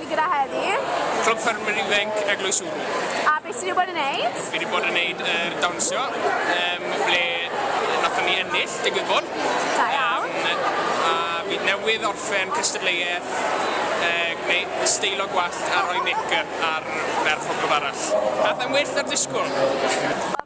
Fi gyda heddi. Clwb Ffermwyr Ifainc Eglwys Wrw. A beth ti wedi bod yn neud? Fi wedi bod yn neud y uh, dawnsio, um, ble nathon ni ennill, digwydd bod. Da iawn. Um, a fi newydd orffen cystadleuaeth uh, gwneud steilo gwallt a rhoi make-up ar ferch o glwb arall. Nath e'n well ar disgwyl.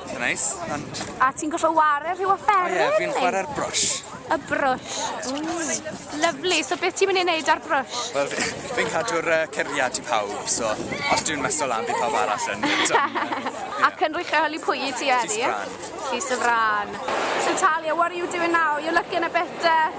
Eitha neis, ond... A ti'n gorfod ware rhyw offeryn? O ie, fi'n chwarae'r brwsh. Y brwsh. Lyflu, so beth ti'n mynd i wneud â'r brwsh? Wel, fi'n cadw'r uh, curiad i pawb, so os dwi'n meso lan, bydd pawb arall yn... Ac yn rhychelu pwy i ti, Eri? Llys y Fran. Llys y Fran. So Talia, what are you doing now? You're looking a bit... Uh...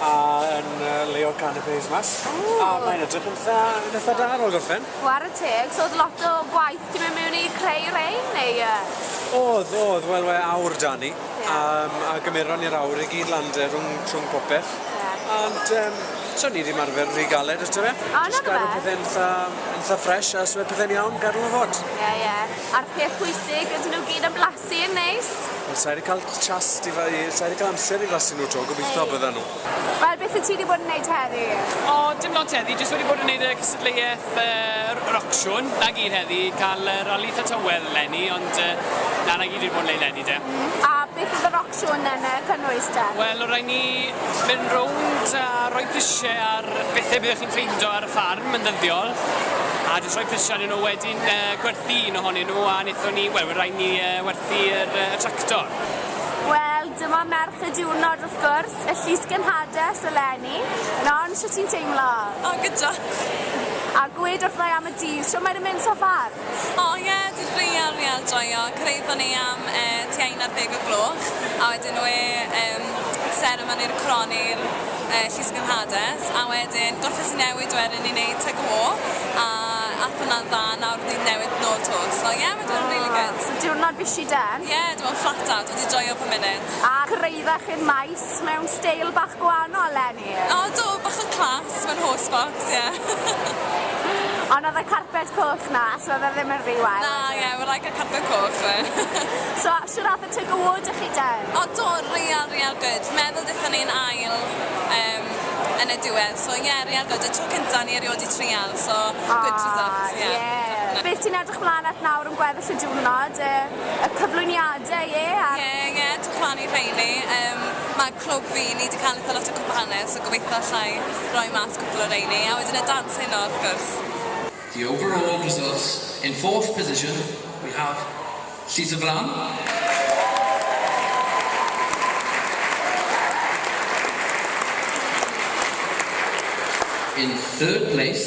a yn yy leol Canapes mas. Ww. A mae'n edrych yn itha yn itha da ar ol gorffen. Ware teg, so o'dd lot o gwaith 'di myn' miwn i creu rein neu yy? O'dd o'dd wel we' awr 'da ni. Ie. A yym a gymeron ni'r awr i gyd lan 'de rhwng rhwng popeth. Ie. Ond yym so ni 'di ymarfer rhy galed ato fe. O 'na rwbeth. Jyst gadw pethe'n itha yn itha ffresh a os we' pethe'n iawn gadw fe fod. Ie ie. A'r peth pwysig ydyn nw gyd yn blasty? Sy'n neis. Wel sai 'di ca'l chas di fa- yy sai 'di ca'l amser i flasu nhw 'to, gobeithio bydda nhw. Wel beth wyt ti 'di bod yn neud heddi? O dim lot heddi, jyst wedi bod yn neud y cystadleuaeth yy yr ocsiwn, 'na gyd heddi, ca'l y rali 'tha tywel 'leni ond yy na 'na gyd fi 'di bod yn neud 'leni de. A beth o'dd yr ocsiwn Siôn yn y cynnwys te? Wel o rai ni mynd rownd a roi prisie ar bethe byddech chi'n ffeindo ar y ffarm yn ddyddiol a jyst rhoi prisie arnyn nhw wedyn yy gwerthu un ohonyn nhw a nethon ni wel we rai ni yy werthu yr yy y tractor. Wel dyma merch y diwrnod wrth gwrs, y llys gynhades eleni. Non, shwt ti'n teimlo? O, good job. A gwed wrtha i am y dydd, shwt mae e'n mynd so far? O ie, dydd Gwener wi ar joio, cyrhaeddon ni am e tua un ar ddeg o'r gloch a wedyn we em seremoni'r croni'r e llysgenhades a wedyn gorffes i newid wedyn i neud tug o war a ath hwnna'n dda nawr dydd newydd nôl to so ie ma' di bod yn rili good. So diwrnod bishi den? Ie, dwi mewn flat out, wedi joio po munud. A cyrhaeddech i'r maes mewn steil bach gwaanol eleni? O do, bach yn class, mae'n horse box, yeah. Ond oedd y carped coch na, so oedd e ddim yn rhy wael. Na, yeah, we're like a carped coch, we. So, shwt ath y tug award i chi de? O do, real, real good. Meddwl dethon ni'n ail um, yn y diwedd, so yeah, real good. Y tro cynta ni erioed i trial, so oh, good results, yeah. yeah. Beth ti'n edrych mlaen at nawr yn gweddill y diwrnod? Y, y cyflwyniadau, ie? Yeah, yeah, yeah, dwi'n plannu rheini. Um, mae clwb fi, ni 'di cael eitha lot o cwpanau so gobeithio allai roi mas cwpl o reini a wedyn y dance heno wrth gwrs. The overall results, in fourth position we have Llys y Fram, in third place,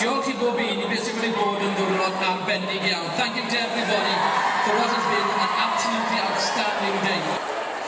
Diolch i bob un i beth sy'n wedi bod yn ddiwrnod arbennig iawn. Thank you to everybody for what has been an absolutely outstanding day.